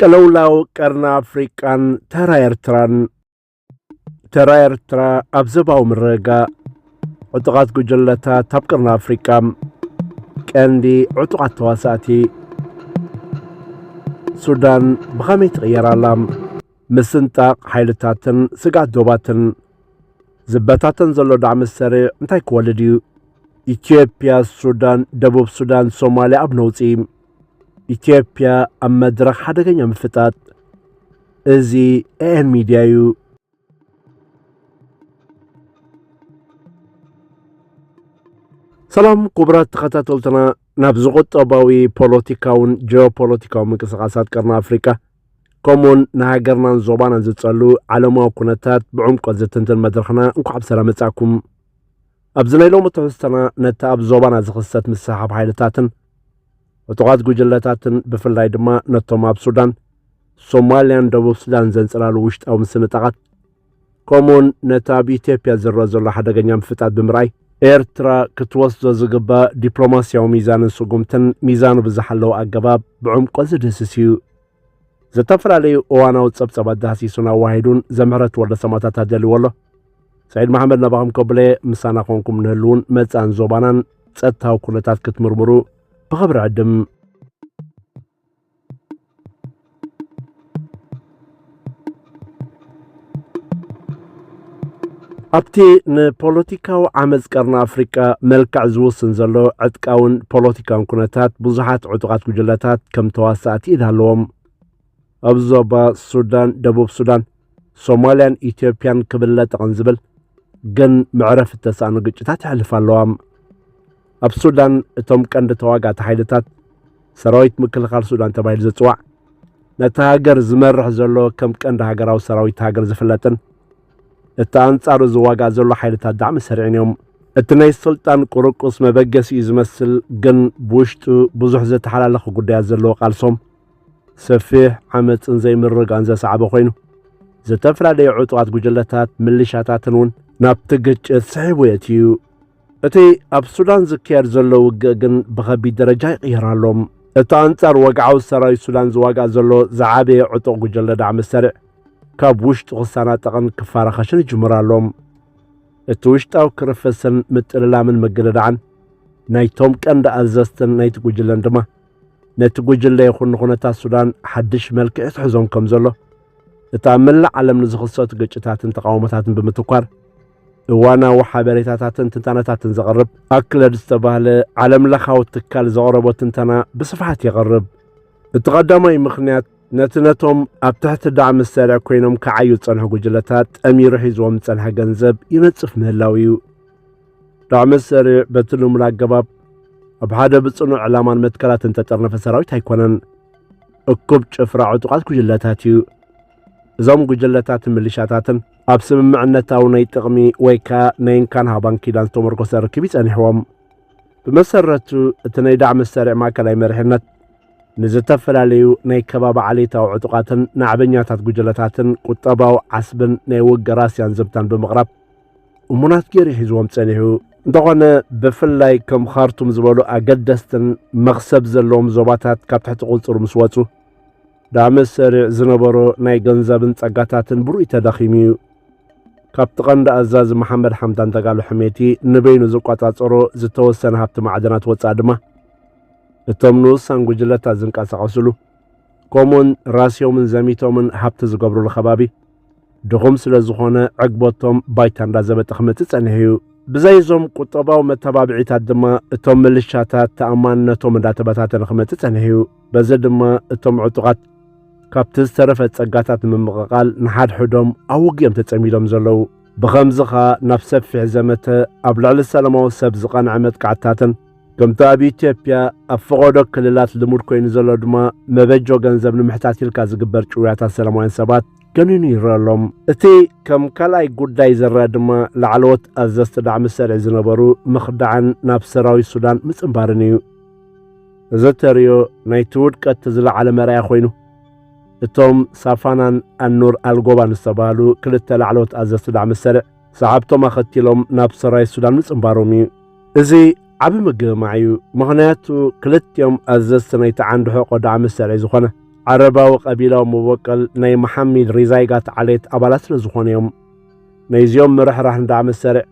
ቅልውላው ቀርኒ ኣፍሪቃን ተራ ኤርትራን ተራ ኤርትራ ኣብ ዘባዊ ምርግጋእ ዕጡቓት ጉጅለታት ኣብ ቀርኒ ኣፍሪቃ ቀንዲ ዕጡቓት ተዋሳእቲ ሱዳን ብኸመይ ትቕየር ኣላ ምስንጣቕ ሓይልታትን ስግኣት ዶባትን ዝበታተን ዘሎ ዳዕሚ ሰሪዕ እንታይ ክወልድ እዩ ኢትዮጵያ ሱዳን ደቡብ ሱዳን ሶማልያ ኣብ ነውፂ ኢትዮጵያ ኣብ መድረኽ ሓደገኛ ምፍጣጥ እዚ ኤኤን ሚድያ እዩ። ሰላም ክቡራት ተኸታተልትና ናብ ዝቁጠባዊ ፖለቲካውን ጂኦፖለቲካዊ ምንቅስቓሳት ቀርኒ ኣፍሪቃ ከምኡውን ንሃገርናን ዞባናን ዝጸሉ ዓለማዊ ኩነታት ብዕምቆት ዝትንትን መድረኽና እንኳዕ ብሰላም መጻእኩም ኣብዚ ናይ ሎሚ ትሕዝቶና ነቲ ኣብ ዞባና ዝኽሰት ምስሕሓብ ሓይልታትን ዕጡቓት ጉጅለታትን ብፍላይ ድማ ነቶም ኣብ ሱዳን ሶማልያን ደቡብ ሱዳን ዘንጸላሉ ውሽጣዊ ምስንጣቓት ከምኡውን ነቲ ኣብ ኢትዮጵያ ዝረአ ዘሎ ሓደገኛ ምፍጣት ብምርኣይ ኤርትራ ክትወስዶ ዝግባእ ዲፕሎማስያዊ ሚዛንን ስጉምትን ሚዛኑ ብዝሓለወ ኣገባብ ብዕምቆት ዝድህስስ እዩ። ዝተፈላለዩ እዋናዊ ጸብጸባት ዳህሲሱን ኣዋሂዱን ዘምሕረት ወልደ ሰማእታት ኣደልዎ ኣሎ ሰዒድ መሓመድ ናባኹም ከብለ ምሳና ኾንኩም ንህልውን መጻን ዞባናን ጸጥታዊ ኩነታት ክትምርምሩ ብኽብሪ ዕድም ኣብቲ ንፖለቲካዊ ዓመፅ ቀርኒ ኣፍሪቃ መልክዕ ዝውስን ዘሎ ዕጥቃውን ፖለቲካውን ኩነታት ብዙሓት ዕጡቓት ጉጅለታት ከም ተዋሳእቲ ኢድ ኣለዎም ኣብ ዞባ ሱዳን ደቡብ ሱዳን ሶማልያን ኢትዮጵያን ክብለጠቕን ዝብል ግን መዕረፊ እተሰኣኑ ግጭታት ይሕልፍ ኣለዋም ኣብ ሱዳን እቶም ቀንዲ ተዋጋእቲ ሓይልታት ሰራዊት ምክልኻል ሱዳን ተባሂሉ ዝፅዋዕ ነቲ ሃገር ዝመርሕ ዘሎ ከም ቀንዲ ሃገራዊ ሰራዊት ሃገር ዝፍለጥን እቲ ኣንጻሩ ዝዋጋእ ዘሎ ሓይልታት ዳዕሚ ሰሪዕን እዮም እቲ ናይ ስልጣን ቁርቁስ መበገሲ እዩ ዝመስል ግን ብውሽጡ ብዙሕ ዘተሓላለኹ ጉዳያት ዘለዎ ቃልሶም ሰፊሕ ዓመፅን ዘይምርጋን ዘሰዓበ ኮይኑ ዝተፈላለዩ ዕጡቓት ጉጅለታት ምልሻታትን እውን ናብቲ ግጭት ስሒቡ የትዩ እቲ ኣብ ሱዳን ዝካየድ ዘሎ ውግእ ግን ብኸቢድ ደረጃ ይቕየር ኣሎ። እቲ ኣንጻር ወግዓዊ ሰራዊት ሱዳን ዝዋጋእ ዘሎ ዝዓበየ ዕጡቕ ጉጀለ ዳዕመ ሰሪዕ ካብ ውሽጡ ክሰናጠቕን ክፋራኸሽን ይጅምር ኣሎ። እቲ ውሽጣዊ ክርፍስን ምጥልላምን ምግድዳዕን ናይቶም ቀንዲ ኣዘዝትን ናይቲ ጉጅለን ድማ ነቲ ጉጅለ ይኹን ንኹነታት ሱዳን ሓድሽ መልክዕ ይትሕዞም ከም ዘሎ እቲ ኣብ መላእ ዓለም ንዝኽሰቱ ግጭታትን ተቃውሞታትን ብምትኳር እዋናዊ ሓበሬታታትን ትንታነታትን ዘቕርብ ኣክለድ ዝተባህለ ዓለም ለኻዊ ትካል ዘቕረቦ ትንተና ብስፍሓት የቕርብ እቲ ቐዳማይ ምኽንያት ነቲ ነቶም ኣብ ትሕቲ ዳዕሚ ዝሰርዕ ኮይኖም ክዓዩ ዝጸንሑ ጉጅለታት ጠሚሩ ሒዝዎም ዝጸንሐ ገንዘብ ይነጽፍ ምህላው እዩ ዳዕሚ ዝሰርዕ በቲ ልሙድ ኣገባብ ኣብ ሓደ ብጽኑዕ ዕላማን መትከላትን ተጠርነፈ ሰራዊት ኣይኮነን እኩብ ጭፍራ ዕጡቓት ጉጅለታት እዩ እዞም ጉጅለታትን ምልሻታትን ኣብ ስምምዕነታዊ ናይ ጥቕሚ ወይ ከኣ ናይ እንካን ሃባን ኪዳን ዝተመርኮሰ ርክብ ይጸኒሕዎም ብመሰረቱ እቲ ናይ ዳዕሚ ሰሪዕ ማእከላይ መሪሕነት ንዝተፈላለዩ ናይ ከባቢ ዓሌታዊ ዕጡቓትን ናዕበኛታት ጉጅለታትን ቁጠባዊ ዓስብን ናይ ወገራስያን ዘብታን ብምቕራብ እሙናት ገይሩ ሒዝዎም ጸኒሑ እንተኾነ ብፍላይ ከም ኻርቱም ዝበሉ ኣገደስትን መኽሰብ ዘለዎም ዞባታት ካብ ትሕቲ ቁጽሩ ምስ ወጹ ዳመት ሰሪዕ ዝነበሮ ናይ ገንዘብን ጸጋታትን ብሩይ ተዳኺሙ እዩ። ካብቲ ቀንዲ ኣዛዚ መሓመድ ሓምዳን ዳጋሎ ሕሜቲ ንበይኑ ዝቋጻጸሮ ዝተወሰነ ሃብቲ ማዕድናት ወጻኢ ድማ እቶም ንኡሳን ጉጅለታት ዝንቀሳቐስሉ ከምኡውን ራስዮምን ዘሚቶምን ሃብቲ ዝገብርሉ ከባቢ ድኹም ስለ ዝኾነ ዕግበቶም ባይታ እንዳዘበጠ ክመጽእ ጸኒሑ እዩ። ብዘይ እዞም ቁጠባዊ መተባብዒታት ድማ እቶም ምልሻታት ተኣማንነቶም እንዳተበታተነ ክመጽእ ጸኒሑ እዩ። በዚ ድማ እቶም ዕጡቓት ካብቲ ዝተረፈ ጸጋታት ንምምቕቓል ንሓድሕዶም ኣብ ውግእ እዮም ተጸሚዶም ዘለዉ። ብኸምዚ ከኣ ናብ ሰፊሕ ዘመተ ኣብ ልዕሊ ሰለማዊ ሰብ ዝቐንዐ መጥቃዕትታትን ከምቲ ኣብ ኢትዮጵያ ኣብ ፈቐዶ ክልላት ልሙድ ኮይኑ ዘሎ ድማ መበጆ ገንዘብ ንምሕታት ኢልካ ዝግበር ጭውያታት ሰላማውያን ሰባት ገኒኑ ይረአ ኣሎም እቲ ከም ካልኣይ ጉዳይ ዝረአ ድማ ላዕለዎት ኣዘዝቲ ዳዕሚ ሰርዒ ዝነበሩ ምኽዳዕን ናብ ሰራዊት ሱዳን ምጽንባርን እዩ እዚ ተሪዮ ናይቲ ውድቀት ዝለዓለ መርኣያ ኮይኑ እቶም ሳፋናን ኣኑር ኣልጎባን ዝተባህሉ ክልተ ላዕለዎት ኣዘዝቲ ዳዕሚ ሰርዕ ሰዓብቶም ኣኸቲሎም ናብ ሰራይ ሱዳን ምጽንባሮም እዩ። እዚ ዓቢ ምግምማዕ እዩ፣ ምኽንያቱ ክልቲኦም ኣዘዝቲ ናይቲ ዓንዲ ሕቖ ዳዕሚ ሰሪዕ ዝኾነ ዓረባዊ ቀቢላዊ መቦቀል ናይ መሓሚድ ሪዛይጋት ዓሌት ኣባላት ስለ ዝኾኑ እዮም። ናይዚኦም ምርሕራሕ ንዳዕሚ ሰሪዕ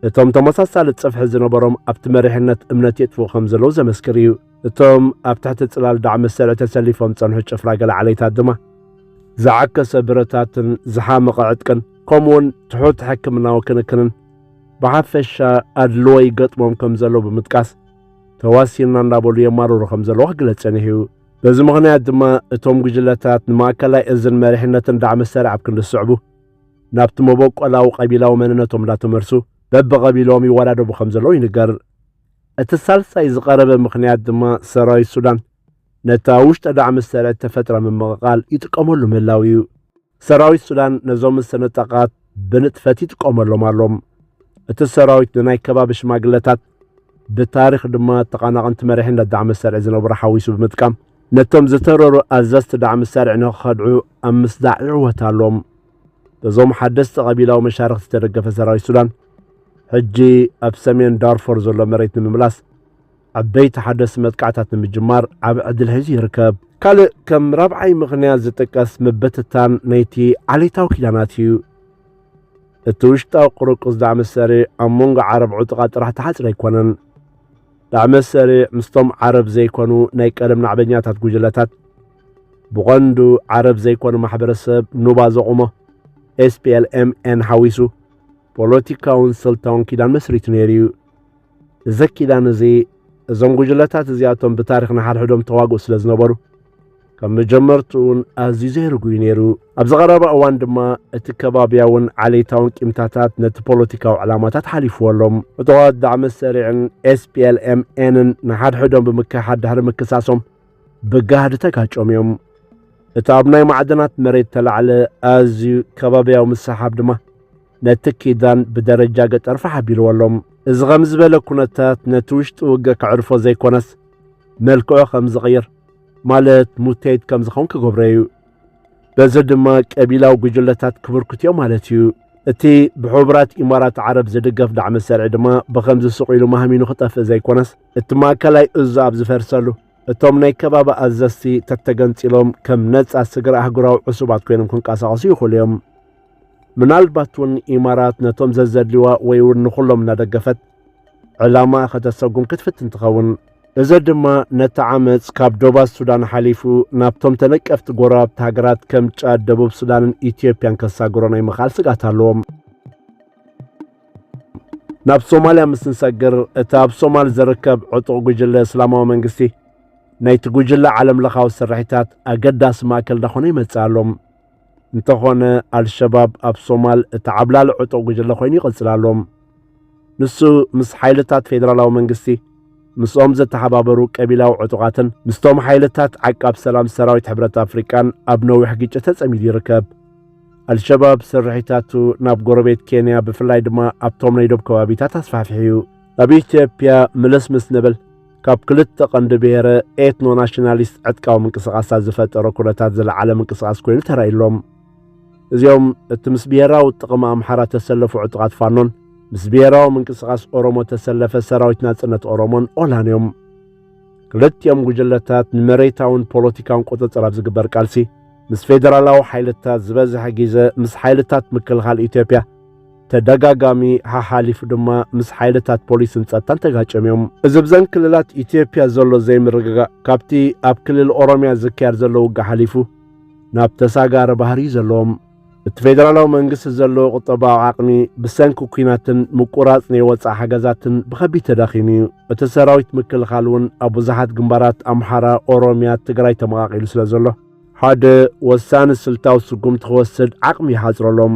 እቶም ተመሳሳሊ ጽፍሒ ዝነበሮም ኣብቲ መሪሕነት እምነት የጥፍኡ ከም ዘለዉ ዘመስክር እዩ። እቶም ኣብ ትሕቲ ጽላል ዳዕሚ ሰልዒ ተሰሊፎም ጸንሑ ጭፍራ ገለ ዓሌታት ድማ ዝዓከሰ ብረታትን ዝሓመቐ ዕጥቅን ከምኡውን ትሑት ሕክምናዊ ክንክንን ብሓፈሻ ኣድልዎ ይገጥሞም ከም ዘሎ ብምጥቃስ ተዋሲና እንዳበሉ የማርሩ ከም ዘለዎ ክግለጽ ጸኒሑ እዩ በዚ ምኽንያት ድማ እቶም ጉጅለታት ንማእከላይ እዝን መሪሕነትን ዳዕሚ ሰራዕ ኣብ ክንዲ ዝስዕቡ ናብቲ መበቆላዊ ቀቢላዊ መንነቶም እንዳተመልሱ በብቐቢሎም ይወዳደቡ ከም ዘለዉ ይንገር እቲ ሳልሳይ ዝቐረበ ምኽንያት ድማ ሰራዊት ሱዳን ነታ ውሽጠ ዳዕሚ ሰራዊት ተፈጥራ ምምቕቓል ይጥቀመሉ ምህላው እዩ ሰራዊት ሱዳን ነዞም መሰነጣቓት ብንጥፈት ይጥቀመሎም ኣሎ። እቲ ሰራዊት ንናይ ከባቢ ሽማግለታት ብታሪኽ ድማ ተቓናቕንቲ መሪሕነት ዳዕሚ ሰርዒ ዝነበሩ ሓዊሱ ብምጥቃም ነቶም ዝተረሩ ኣዘዝቲ ዳዕሚ ሰርዒ ንክኸድዑ ኣብ ምስዳዕ ይዕወት ኣሎ። በዞም ሓደስቲ ቀቢላዊ መሻርኽቲ ዝተደገፈ ሰራዊት ሱዳን ሕጂ ኣብ ሰሜን ዳርፎር ዘሎ መሬት ንምምላስ ዓበይቲ ሓደስቲ መጥቃዕታት ንምጅማር ዓብ ዕድል ሒዙ ይርከብ። ካልእ ከም ራብዓይ ምኽንያት ዝጥቀስ ምብትታን ናይቲ ዓሌታዊ ኪዳናት እዩ። እቲ ውሽጣዊ ቁርቁስ ዳዕመ ሰሪዕ ኣብ መንጎ ዓረብ ዕጡቓት ጥራሕ ተሓጽረ ኣይኮነን። ዳዕመ ሰሪዕ ምስቶም ዓረብ ዘይኮኑ ናይ ቀደም ናዕበኛታት ጉጅለታት ብቐንዱ ዓረብ ዘይኮነ ማሕበረሰብ ኑባ ዘቑሞ ኤስፒኤልኤምኤን ሓዊሱ ፖለቲካውን ስልታውን ኪዳን መስሪቱ ነይሩ እዩ። እዚ ኪዳን እዚ እዞም ጉጅለታት እዚኣቶም ብታሪኽ ንሓድሕዶም ተዋግኡ ስለ ዝነበሩ ካብ መጀመርትኡን ኣዝዩ ዘይርጉዩ ነይሩ። ኣብዚ ቐረባ እዋን ድማ እቲ ከባብያውን ዓሌታውን ቂምታታት ነቲ ፖለቲካዊ ዕላማታት ሓሊፍዎ ኣሎ። ዕጡቓት ዳዕመ ሰሪዕን ኤስፒኤልኤምኤንን ንሓድሕዶም ብምክሕሓድ ድሕሪ ምክሳሶም ብጋህዲ ተጋጮም እዮም። እቲ ኣብ ናይ ማዕድናት መሬት ተላዕለ ኣዝዩ ከባብያዊ ምስሓብ ድማ ነቲ ኪዳን ብደረጃ ገጠር ፋሕ ኣቢልዎ ኣሎ። እዚ ኸም ዝበለ ኩነታት ነቲ ውሽጢ ውገ ከዕርፎ ዘይኮነስ መልክዑ ከም ዝቕይር ማለት ሙቴት ከም ዝኸውን ክገብሮ እዩ። በዚ ድማ ቀቢላዊ ጉጅለታት ክብርክት እዮም ማለት እዩ። እቲ ብሕቡራት ኢማራት ዓረብ ዝድገፍ ዳዕሚ ሰርዒ ድማ ብኸምዚ ስቕ ኢሉ ማህሚኑ ክጠፍእ ዘይኮነስ እቲ ማእከላይ እዙ ኣብ ዝፈርሰሉ እቶም ናይ ከባቢ ኣዘዝቲ ተተገንፂሎም ከም ነፃ ስግረ ኣህጉራዊ ዕሱባት ኮይኖም ክንቀሳቐሱ ይኽእሉ እዮም። ምናልባት እውን ኢማራት ነቶም ዘዘድልዋ ወይ እውን ንኹሎም እናደገፈት ዕላማኣ ከተሰጉም ክትፍትን ትኸውን። እዚ ድማ ነቲ ዓመፅ ካብ ዶባ ሱዳን ሓሊፉ ናብቶም ተነቀፍቲ ጎረባብቲ ሃገራት ከም ጫድ፣ ደቡብ ሱዳንን ኢትዮጵያን ከሳግሮ ናይ ምኽኣል ስግኣት ኣለዎም። ናብ ሶማልያ ምስ ንሰግር እቲ ኣብ ሶማል ዝርከብ ዕጡቕ ጉጅለ እስላማዊ መንግስቲ ናይቲ ጉጅለ ዓለም ለኻዊ ስርሒታት ኣገዳሲ ማእከል ዳኾነ ይመጽእ ኣሎ። እንተኾነ ኣልሸባብ ኣብ ሶማል እቲ ዓብላሊ ዕጡቕ ጉጅለ ኮይኑ ይቕጽል ኣሎ። ንሱ ምስ ሓይልታት ፌደራላዊ መንግስቲ ምስኦም ዘተሓባበሩ ቀቢላዊ ዕጡቓትን ምስቶም ሓይልታት ዓቃብ ሰላም ሰራዊት ሕብረት ኣፍሪቃን ኣብ ነዊሕ ግጭት ተጸሚዱ ይርከብ። ኣልሸባብ ስርሒታቱ ናብ ጎረቤት ኬንያ ብፍላይ ድማ ኣብቶም ናይ ዶብ ከባቢታት ኣስፋሕፊሑ እዩ። ኣብ ኢትዮጵያ ምልስ ምስ ንብል ካብ ክልተ ቀንዲ ብሄረ ኤትኖ ናሽናሊስት ዕጥቃዊ ምንቅስቓሳት ዝፈጠረ ኩነታት ዝለዓለ ምንቅስቓስ ኮይኑ ተራእዩሎም። እዚኦም እቲ ምስ ብሄራዊ ጥቕሚ ኣምሓራ ተሰለፉ ዕጡቓት ፋኖን ምስ ብሄራዊ ምንቅስቓስ ኦሮሞ ተሰለፈ ሰራዊት ናጽነት ኦሮሞን ኦላን እዮም። ክልቲኦም ጉጅለታት ንመሬታውን ፖለቲካውን ቁጽጽር ኣብ ዝግበር ቃልሲ ምስ ፌደራላዊ ሓይልታት ዝበዝሐ ግዜ ምስ ሓይልታት ምክልኻል ኢትዮጵያ ተደጋጋሚ ሓሓሊፉ ድማ ምስ ሓይልታት ፖሊስን ጸጥታን ተጋጭዮም እዮም። እዚ ብዘን ክልላት ኢትዮጵያ ዘሎ ዘይምርግጋእ ካብቲ ኣብ ክልል ኦሮምያ ዝካየድ ዘሎ ውግእ ሓሊፉ ናብ ተሳጋሪ ባህሪ እዩ ዘለዎም። እቲ ፌደራላዊ መንግስቲ ዘለዎ ቁጠባዊ ዓቕሚ ብሰንኪ ኩናትን ምቁራጽ ናይ ወፃእ ሓገዛትን ብኸቢድ ተዳኺሙ እዩ። እቲ ሰራዊት ምክልኻል እውን ኣብ ብዙሓት ግንባራት ኣምሓራ፣ ኦሮምያ፣ ትግራይ ተመቓቒሉ ስለ ዘሎ ሓደ ወሳኒ ስልታዊ ስጉምቲ ክወስድ ዓቕሚ ይሓጽረሎም።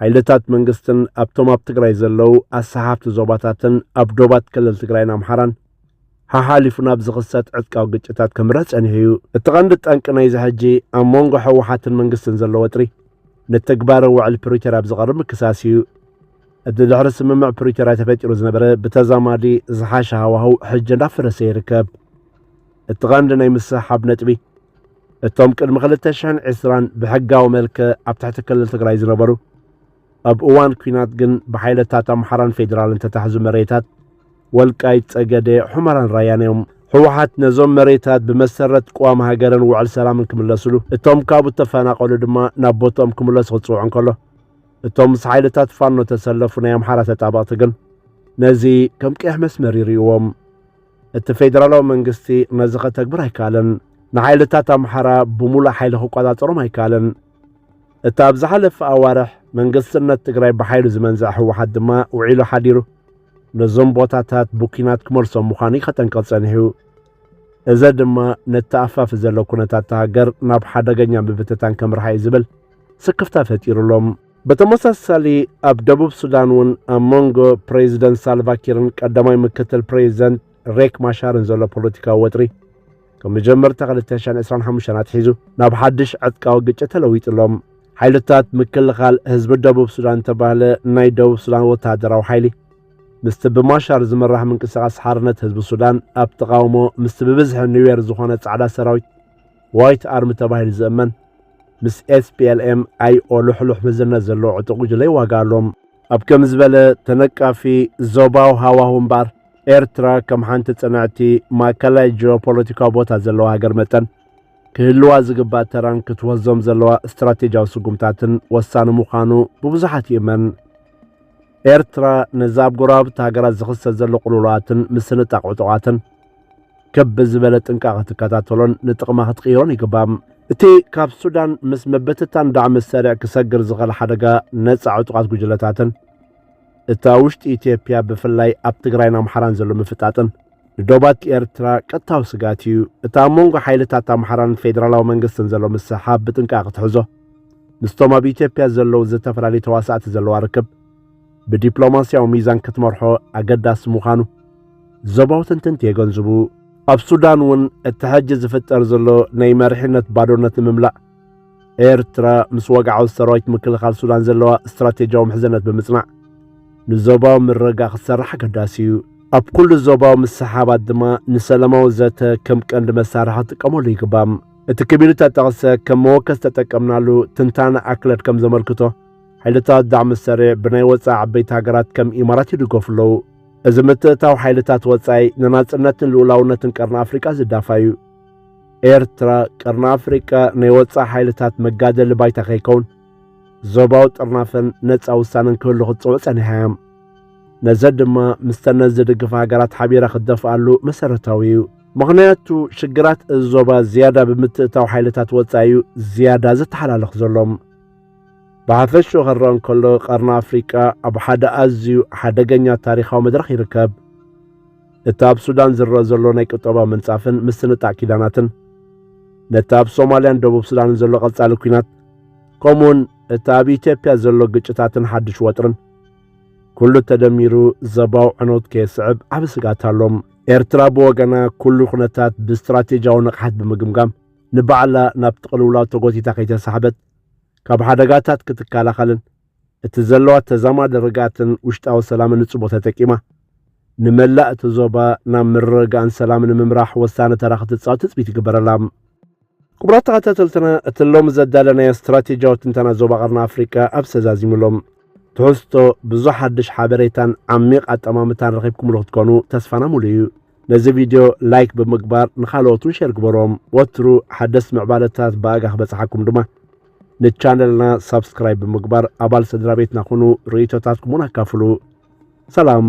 ሓይልታት መንግስትን ኣብቶም ኣብ ትግራይ ዘለዉ ኣሰሓፍቲ ዞባታትን ኣብ ዶባት ክልል ትግራይን ኣምሓራን ሓሓሊፉ ናብ ዝኽሰት ዕጥቃዊ ግጭታት ከምርሕ ጸኒሑ እዩ። እቲ ቀንዲ ጠንቂ ናይዚ ሕጂ ኣብ መንጎ ሕወሓትን መንግስትን ዘሎ ወጥሪ ንትግባረ ውዕል ፕሪቶርያ ኣብ ዝቐርብ ምክሳስ እዩ። እቲ ድሕሪ ስምምዕ ፕሪቶርያ ተፈጢሩ ዝነበረ ብተዛማዲ ዝሓሸ ሃዋህው ሕጂ እንዳፈረሰ ይርከብ። እቲ ቐንዲ ናይ ምስሕሓብ ነጥቢ እቶም ቅድሚ 2020 ብሕጋዊ መልክዕ ኣብ ትሕቲ ክልል ትግራይ ዝነበሩ ኣብ እዋን ኩናት ግን ብሓይለታት ኣምሓራን ፌዴራልን ተታሕዙ መሬታት ወልቃይት፣ ጸገደ፣ ሑመራን ራያን እዮም። ህወሓት ነዞም መሬታት ብመሰረት ቅዋም ሃገርን ውዕል ሰላምን ክምለስሉ እቶም ካብኡ ተፈናቐሉ ድማ ናብ ቦትኦም ክምለሱ ክጽውዑ እንከሎ እቶም ምስ ሓይልታት ፋኖ ተሰለፉ ናይ ኣምሓራ ተጣበቕቲ ግን ነዚ ከም ቀይሕ መስመር ይርእዎም። እቲ ፌደራላዊ መንግስቲ ነዚ ከተግብር ኣይከኣለን። ንሓይልታት ኣምሓራ ብምሉእ ሓይሊ ክቆጻጸሮም ኣይከኣለን። እቲ ኣብ ዝሓለፈ ኣዋርሕ መንግስትነት ትግራይ ብሓይሉ ዝመንዝዐ ህወሓት ድማ ውዒሉ ሓዲሩ ነዞም ቦታታት ብኲናት ክመልሶም ምዃኑ ከጠንቀቕ ጸኒሑ። እዚ ድማ ነቲ ኣፋፊ ዘሎ ኩነታት ሃገር ናብ ሓደገኛ ምብትታን ከምርሓ እዩ ዝብል ስክፍታ ፈጢሩሎም። ብተመሳሳሊ ኣብ ደቡብ ሱዳን እውን ኣብ መንጎ ፕሬዚደንት ሳልቫኪርን ቀዳማይ ምክትል ፕሬዚደንት ሬክ ማሻርን ዘሎ ፖለቲካዊ ወጥሪ ካብ መጀመርታ 2025 ኣትሒዙ ናብ ሓድሽ ዕጥቃዊ ግጭት ተለዊጡ ኣሎ። ሓይልታት ምክልኻል ህዝቢ ደቡብ ሱዳን ተባህለ ናይ ደቡብ ሱዳን ወተሃደራዊ ሓይሊ ምስቲ ብማሻር ዝምራሕ ምንቅስቓስ ሓርነት ህዝቢ ሱዳን ኣብ ተቓውሞ ምስቲ ብብዝሒ ኒዌር ዝኾነ ጻዕዳ ሰራዊት ዋይት ኣርሚ ተባሂሉ ዝእመን ምስ ኤስፒኤልኤም ኣይኦ ልሕሉሕ መዝነት ዘለዎ ዕጡቕ ጉጅለ ይዋጋኣሎ። ኣብ ከም ዝበለ ተነቃፊ ዞባዊ ሃዋሁ እምበኣር፣ ኤርትራ ከም ሓንቲ ጽንዕቲ ማእከላይ ጂኦፖለቲካዊ ቦታ ዘለዋ ሃገር መጠን፣ ክህልዋ ዝግባእ ተራን ክትወስዞም ዘለዋ ስትራቴጂያዊ ስጉምታትን ወሳኒ ምዃኑ ብብዙሓት ይእመን። ኤርትራ ነዚ ኣብ ጎረባብቲ ሃገራት ዝኽሰት ዘሎ ቅልውላዋትን ምስንጣቕ ዕጡቓትን ከብ ብዝበለ ጥንቃቐ ክትከታተሎን ንጥቕማ ክትቅይሮን ይግባእ። እቲ ካብ ሱዳን ምስ ምብትታን ዳዕሚ ሰሪዕ ክሰግር ዝኽእል ሓደጋ ነፃ ዕጡቓት ጉጅለታትን እታ ውሽጢ ኢትዮጵያ ብፍላይ ኣብ ትግራይን ኣምሓራን ዘሎ ምፍጣጥን ንዶባት ኤርትራ ቀጥታዊ ስጋት እዩ። እታ ኣብ መንጎ ሓይልታት ኣምሓራን ፌዴራላዊ መንግስትን ዘሎ ምስሓብ ብጥንቃቐ ክትሕዞ ምስቶም ኣብ ኢትዮጵያ ዘለዉ ዝተፈላለዩ ተዋሳእቲ ዘለዋ ርክብ ብዲፕሎማስያዊ ሚዛን ክትመርሖ ኣገዳሲ ምዃኑ ዞባዊ ተንተንቲ የገንዝቡ። ኣብ ሱዳን እውን እቲ ሕጂ ዝፍጠር ዘሎ ናይ መሪሕነት ባዶነት ንምምላእ ኤርትራ ምስ ወግዓዊ ሰራዊት ምክልኻል ሱዳን ዘለዋ ስትራቴጂያዊ ምሕዝነት ብምጽናዕ ንዞባዊ ምርግጋእ ክሰርሕ ኣገዳሲ እዩ። ኣብ ኩሉ ዞባዊ ምስሓባት ድማ ንሰላማዊ ዘተ ከም ቀንዲ መሳርሒ ክጥቀመሉ ይግባእ። እቲ ክብል እተጠቕሰ ከም መወከሲ ተጠቀምናሉ ትንታነ ኣክለድ ከም ዘመልክቶ ሓይልታት ዳዕሚ ሰረ ብናይ ወፃኢ ዓበይቲ ሃገራት ከም ኢማራት ይድገፉ ኣለዉ እዚ ምትእታው ሓይልታት ወጻኢ ንናጽነትን ልኡላውነትን ቀርኒ ኣፍሪቃ ዝዳፋዩ ኤርትራ ቀርኒ ኣፍሪቃ ናይ ወጻኢ ሓይልታት መጋደሊ ባይታ ከይከውን ዞባዊ ጥርናፈን ነፃ ውሳነን ክህሉ ክትፅውዕ ጸኒሓ እያ ነዘ ድማ ምስተነ ዝድግፋ ሃገራት ሓቢራ ክትደፍኣሉ መሰረታዊ እዩ ምኽንያቱ ሽግራት እዚ ዞባ ዝያዳ ብምትእታው ሓይልታት ወጻኢ እዩ ዝያዳ ዝተሓላለኽ ዘሎም ብሓፈሽኡ ክረአ እንከሎ ቀርኒ ኣፍሪቃ ኣብ ሓደ ኣዝዩ ሓደገኛ ታሪኻዊ መድረኽ ይርከብ። እቲ ኣብ ሱዳን ዝረአ ዘሎ ናይ ቁጠባ ምንጻፍን ምስንጣዕ ኪዳናትን ነቲ ኣብ ሶማልያን ደቡብ ሱዳንን ዘሎ ቀጻሊ ኲናት ከምኡውን እቲ ኣብ ኢትዮጵያ ዘሎ ግጭታትን ሓድሽ ወጥርን ኩሉ ተደሚሩ ዘባው ዕኖት ከየስዕብ ዓብ ስጋት ኣሎም ኤርትራ ብወገና ኩሉ ኩነታት ብስትራቴጂያዊ ንቕሓት ብምግምጋም ንባዕላ ናብቲ ቅልውላው ተጎቲታ ከይተሳሕበት ካብ ሓደጋታት ክትከላኸልን እቲ ዘለዋ ተዛማዲ ርግኣትን ውሽጣዊ ሰላምን ንጽቦ ተጠቂማ ንመላእ እቲ ዞባ ናብ ምርርጋእን ሰላምን ንምምራሕ ወሳኒ ተራ ክትጻወት ትጽቢት ይግበረላ ክቡራት ተኸታተልትና እቲ ሎሚ ዘዳለናዮ ስትራቴጂያዊ ትንተና ዞባ ቀርኒ ኣፍሪቃ ኣብ ሰዛዚሙሎም ትሕዝቶ ብዙሕ ሓድሽ ሓበሬታን ዓሚቕ ኣጠማምታን ረኺብኩምሉ ክትኮኑ ተስፋና ሙሉ እዩ ነዚ ቪድዮ ላይክ ብምግባር ንኻልኦት ውን ሸር ግበሮም ወትሩ ሓደስቲ ምዕባለታት ብኣጋ ክበጽሓኩም ድማ ንቻነልና ሳብስክራይብ ብምግባር ኣባል ስድራ ቤትና ኩኑ ርእይቶታትኩም ውን ኣካፍሉ ሰላም